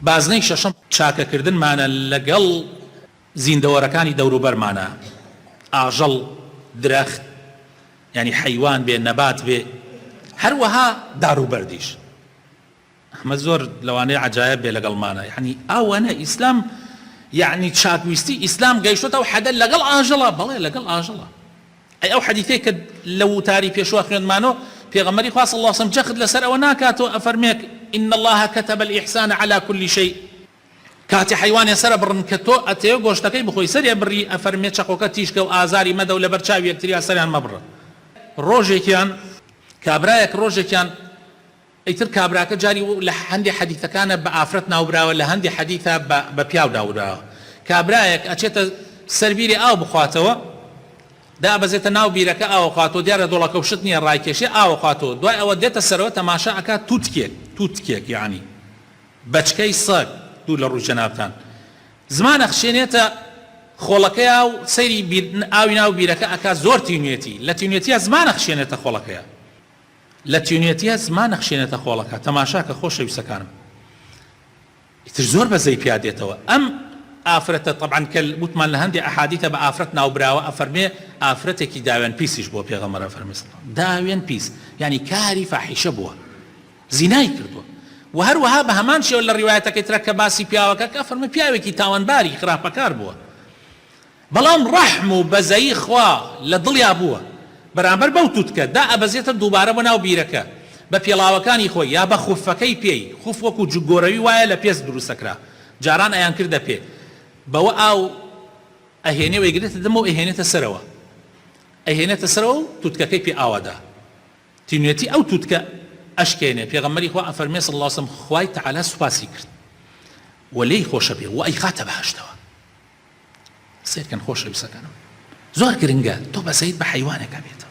بازنەی شەشەم، چاکەکردنمانە لەگەڵ زیندەوەرەکانی دەوروبەرمانە، ئاژەڵ، درەخت، یانی حەیوان بێ، نەبات بێ، هەروەها داروبەردیش. ئەمە زۆر لەوانەیە عەجایەب بێ لەگەڵمانە، یانی ئاوەنە ئیسلام، یانی چاکویستی ئیسلام گەیشتۆتە ئەو حەدە لەگەڵ ئاژەڵە، بەڵێ لەگەڵ ئاژەڵە. ئەی ئەو حەدیثەی کە لە ووتاری پێشوا خوێندمانۆ پێغەمبەری خوا صلی اللە علیە وسلم جەخت لەسەر ئەوە ناکاتۆ ئەفەرمێک ان اللە کتب الاحسان علی کل شیء کاتێ حەیوانێ سەر ئەبڕن کە تۆ ئەتەوێ گۆشتەکەی بخۆی سەری ئەبڕی ئەفەرمێ چەقۆکە تیژکە و ئازاری مەدە و لەبەر چاوی یەکتریا سەریان مەبڕە ڕۆژێکیان کابرایەک ڕۆژێکیان ئیتر کابراکە جاری و لە هەندێ حەدیثەکانا بە ئافرەت ناوبراوە لە هەندێ حەدیثا بە بە پیاو ناوبراوە کابرایەک ئەچێتە سەر بیرێ ئاو بخواتەوە دابەزێتە ناو بیرەکە ئاوەخواتەوە دیارە دۆڵەکە و شت نیە ڕایکێشێ ئاوەخواتەوە دوای ئەوە دێتە سەرەوە تەماشا ئەکا توتکێک توتکێک یەعنی بەچکەی سەگ دوور لە ڕووی جەنابتان زمان ئەخشێنێتە خۆڵەکەیا و سەیری بیر ئاوی ناو بیرەکە ئەکا زۆر تینوێتی لە تینوێتیا زمان ئەخشێنێتە خۆڵەکەیا لە تینوێتیە زمان ئەخشێنێتە خۆڵەکە تەماشاکە خۆشەویستەکانم ئیتر زۆر بەزەی پیا دێتەوە ئەم ئافرەتە تەبعەن کە وتمان لە هەندێ ئەحادیتە بە ئافرەت ناوبراوە ئەفەرمێ ئافرەتێکی داوێن پیسیش بووە پێغەمبەر ئەفەرمێ داوێن پیس یعنی کاری فاحیشە بووە زینای کردووە و هەروەها بە هەمان شێوە لە ڕیوایەتەکەی ترە کە باسی پیاوەکە کە ئەفەرمێ پیاوێکی تاوانباری خراپەکار بووە بەڵام ڕەحم و بەزەیی خوا لە دڵیا بووە بەرامبەر بەو توتکە، دائەبەزێتە دووبارە بۆ ناو بیرەکە بە پێڵاوەکانی خۆی یا بە خوفەکەی پێی، خوف وەکوو جگۆرەوی وایە لە پێست دروستەکرا، جاران ئەیانکردە پێ بەوە ئاو ئەهێنێ و ئەیگرێتە دەمەوە و ئەیهێنێتە سەرەوە ئەیهێنێتە سەرەوە و توتکەکەی پێ ئاوەدە تینوێتی ئەو توتکە ئەشکێنێ، پێغەمبەری خوا ئەفەرمێ، صلی اللە وسلم، خوای تەعالا سوپاسی کرد و لێی خۆشەبێ و ئەیخاتە بەهەشتەوە. سەیرکەن خۆشەویستەکانم زۆر گرنگە تۆ بەسەید بە حەیوانێک ئەبێتەوە.